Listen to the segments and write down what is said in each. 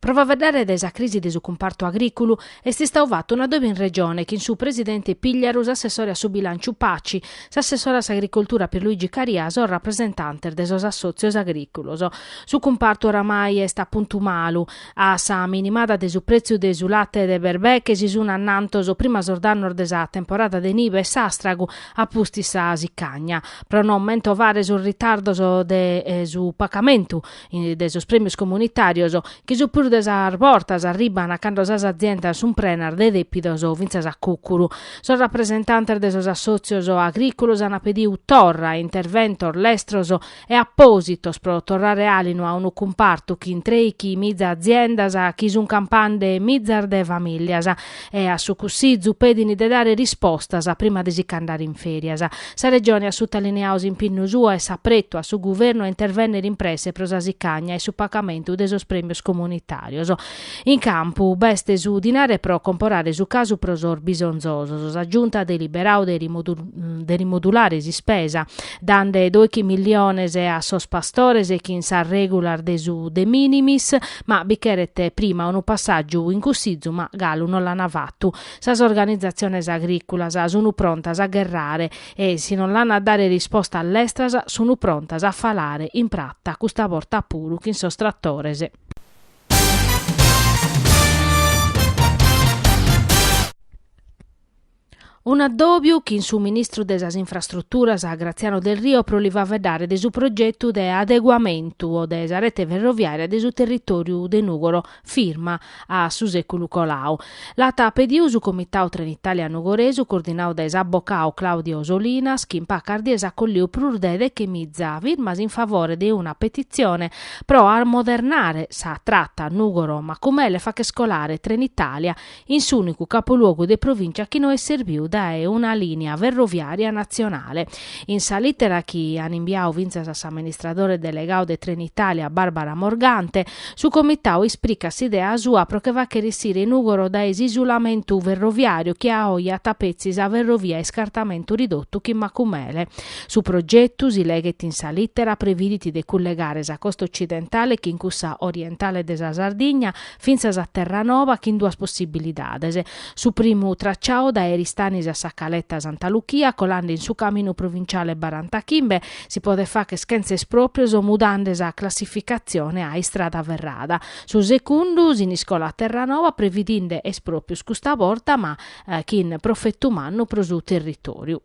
Pro faveddare de sa crisi de su cumpartu agrìculu est istau fatu un'addòbiu in Regione chin su presidente Pigliaru, s'assessore a su bilànciu Paci, s'assessore a s'agricoltura Pierluigi Caria, sos rapresentantes de sos assòtzios agrìculos. Su cumpartu oramai est a puntu malu. A sa minimada de su prètziu de su late de berbeche si sun annantos prima sos dannos de sa temporada de nive e s'àstragu a pustis sa sicagna. Pro no mentovare sos ritardos de su pacamentu de sos prèmios comunitàrios, chi su prus de sas bortas arribant cando sas aziendas sunt prenas de dèpidos o fintzas a cùcuru. Sos rapresentantes de sos assòtzios agrìculos ant pediu torra interventos lestros e apòsitos pro torrare àlinu a unu cumpartu chin trèichi miza aziendas chi sunt campande mizas de famìlias, e a su Cussizu pedini de dare rispostas prima de si ch'andare in ferias. Sa Regione at sutalineau s'impinnu suo e s'apretu a su Guvernu a intervennere in presse pro sa sicagna e su pagamentu de sos premios comunitarios. In campu b'est su dinare pro comporare su casu pro sos bisonzosos. Sa Giunta at deliberau de rimodulare s'ispesa, dande doichi milliones a sos pastores chin sas regulas de su de minimis, Ma bi cheret prima unu passàgiu in Cussizu, ma galu non l'ana fatu. Sas organizatziones agrìculas sunu prontas a gherrare e, si non l'an a dare rispostas lestras, sunu prontas a falare in prata, custa borta puru chin sos tratores. Un'addòbiu chin su ministru de sas Infrastruturas Graziano Delrio pro li faveddare de su progetu de adeguamentu de sa rete ferroviària de su territòriu de Nùgoro firma a su sèculu colau. L'at pediu su Comitau Trenitalia Nugoresu coordinau dae s'abocau Claudio Solinas chi in pacas dies at colliu prus de dechemiza firmas in favore de una petitzione pro amodernare sa trata Nùgoro-Macumele e fàcher colare Trenitalia in s'ùnicu capoluogu de provìncia chi no est serbiu dae una lìnea ferroviària natzionale. In sa lìtera chi an imbiau fintzas a s'amministradore delegau de Trenitalia Barbara Morgante, su comitau ispricat s'idea sua pro che fàchere issire Nùgoro dae s'isulamentu ferroviàriu chi a oje at petzi sa ferrovia a iscartamentu ridotu chin Macumele. Su progetu, si leghet in sa lìtera, previdit de cullegare sa costa otzidentale chin cussa orientale de sa Sardigna, fintzas a Terranova chin duas possibilidades, su primu tracciau dae Eristanis a Sa Caleta Santa Luchia colande in su caminu provinciale barantachimbe si podet facher chentza esproprios mudande sa classificatzione a istrada ferrada, su secundu Siniscola-Terranova previdinde esproprios custa borta ma chin profetu mannu pro su territoriu.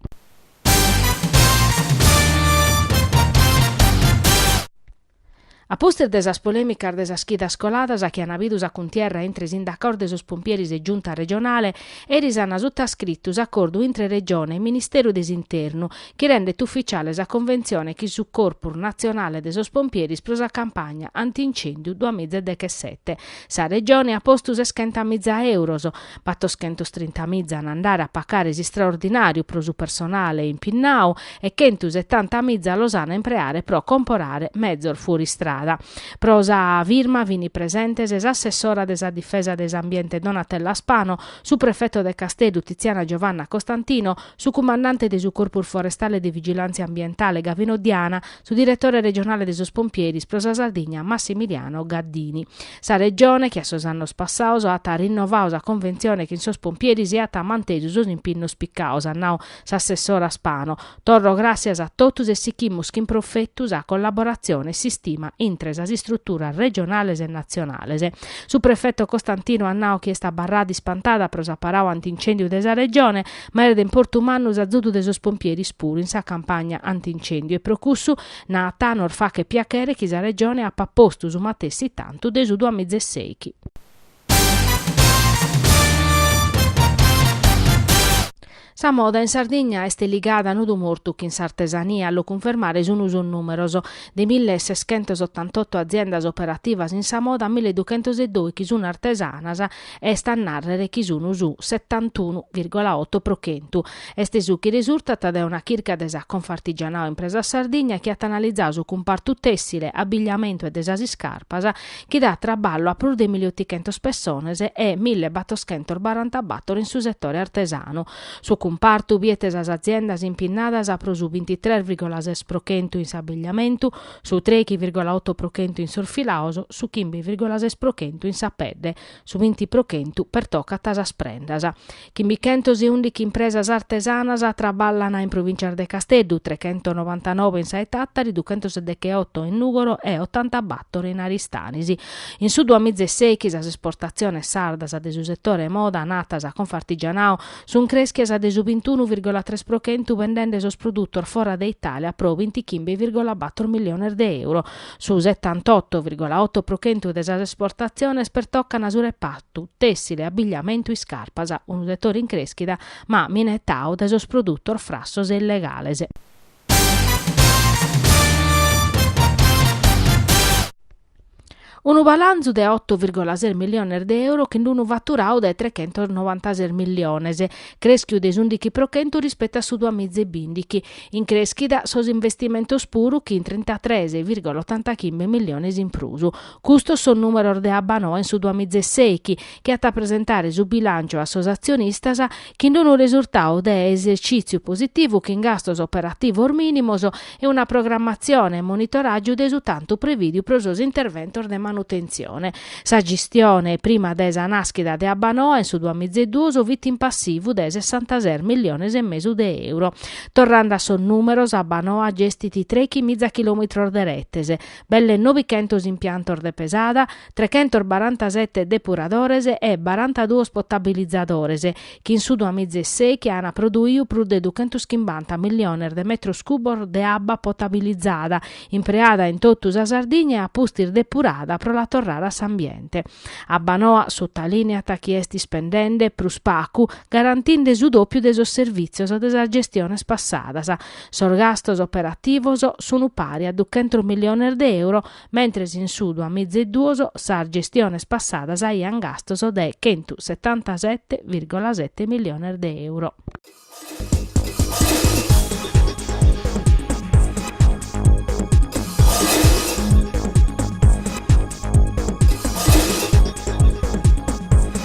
A pustis de sas polèmicas de sas chidas coladas chi an bidu sa cuntierra intre sindacaos de sos pompieris e Giunta regionale, eris an sutascritu s'acordu intre Regione e Ministeru de s'Internu chi rendet ufficiale sa conventzione chin su Corpus natzionale de sos pompieris pro sa campagna anti-incèndiu duamiza e dechesete. Sa Regione at postu seschentamiza euros, battoschentostrintamiza an a andare a pacare s'istraordinàriu pro su personale impinnau e chentusetantamiza los an a impreare pro comporare mezos fuoristrada. Pro sa firma fini presentes s'assessora de sa Difesa de s'Ambiente Donatella Spano, su prefeto de Casteddu Tiziana Giovanna Costantino, su cumandante de su Corpus Forestale de Vigilàntzia Ambientale Gavino Diana, su diretore regionale de sos Pompieris pro sa Sardigna Massimiliano Gaddini. Sa Regione, che a sos annos passaos at rinnovau sa conventzione chin sos Pompieris e at mantesu sos impinnos picaos, at nau S'assessora Spano, Torro gràssias a totus e sichimus chin profetu sa collaboratzione e s'istima intre sas istruturas regionales e natzionales. Su prefeto Costantino at nau chi est abarrada ispantada pro s'aparau ant'incèndiu de sa Regione, ma est de importu mannu s'azudu de sos pompieris puru in sa campagna ant'incèndiu e pro cussu, naat, nos fachet piachere chi sa Regione apat postu su matessi tantu de su duamiza e seichi. Sa moda in Sardigna est ligada a nodu mortu chin s'artesania, a lu cunfermare sun sos numeros, de mille e seschentos ottantotto aziendas operativas in sa moda mille duchentos e dòichi sun artesanas, est a narrer chi sun su settantunu virgola otto pro chentu. Est su chi resurtat dae una chirca de sa Confartigianao Impresas Sardigna chi at analizau su cumpartu tessile, abbigliamentu e de sas iscarpas, chi dat traballu a prus de miliotichentos pessones e mille battoschentos barantabator in su setore artesanu. Su cumpartu biet sas aziendas impinnadas pro su bintitres virgola ses pro chentu in s'abigliamentu, su trechi virgola oto pro chentu in sos filaos, su chimbe virgola ses pro chentu in sa pedde, su binti pro chentu pertocat sas prendas. Chimbichentoseùndichi impresas artesanas traballana in provìntzia de Casteddu, trechentonovantanoe in sa 'e Tàtari, duchentosedecheoto in Nùgoro e otantabàtoro in Aristanis. In su duamizeseichi sas esportatziones sardas de su setore moda naat sa Confartigianao sunt crèschias de su bintunu virgola tres pro chentu bendende sos produtos fora de Itàlia pro bintichimbe virgola bator miliones de euro. Su setantoto virgola oto pro chentu de sas esportatziones pertocan su repartu tu tessile abbigliamentu iscarpas unu setore in creschida ma minetau dae sos produtos frassos e illegales. Unu balanzu de oto virgola ses milliones de euro chin unu fatturau de trechentos novantases milliones, creschiu de s'undichi pro chentu rispetu a su duas miza e bindichi. In creschida sos investimentos puru chin trintatres virgola ottantachimbe milliones in prus, Custos sos nùmeros de Abbanoa in su duamizeseichi chi at a presentare su bilànciu a sos atzionistas chin unu resurtau de esercìtziu positivu chin gastos operativos mìnimos e una programmatzione e monitoràgiu de su tantu prevìdiu pro sos interventos de manutentzione. Sa gestione prima de sa nàschida de Abbanoa in su duamizeduos fit in passivu de sessantases milliones e mesu de euro. Torrande a sos nùmeros, Abbanoa gestit trechi miza chilòmitros de retes, belle nobichentos impiantos de pesada, trechentos barantasete depuradores e barantaduos potabilizadores, chi in su duamizeseichi ana produiu prus de duchentoschimbanta milliones de metros cubos de abba potabilizada, impreada in totu sa Sardigna e a pustis depurada pro la torrare a s'ambiente. Abbanoa sutalìneat chi est ispendende prus pacu, garantinde su dopiu de sos servìtzios de sas gestiones passadas, Sos gastos operativos sun pari a duchentos milliones de euro, mentres in su duas miza e duos sas gestiones passadas aian gastos de chentu setantasette virgola sette milliones de euro.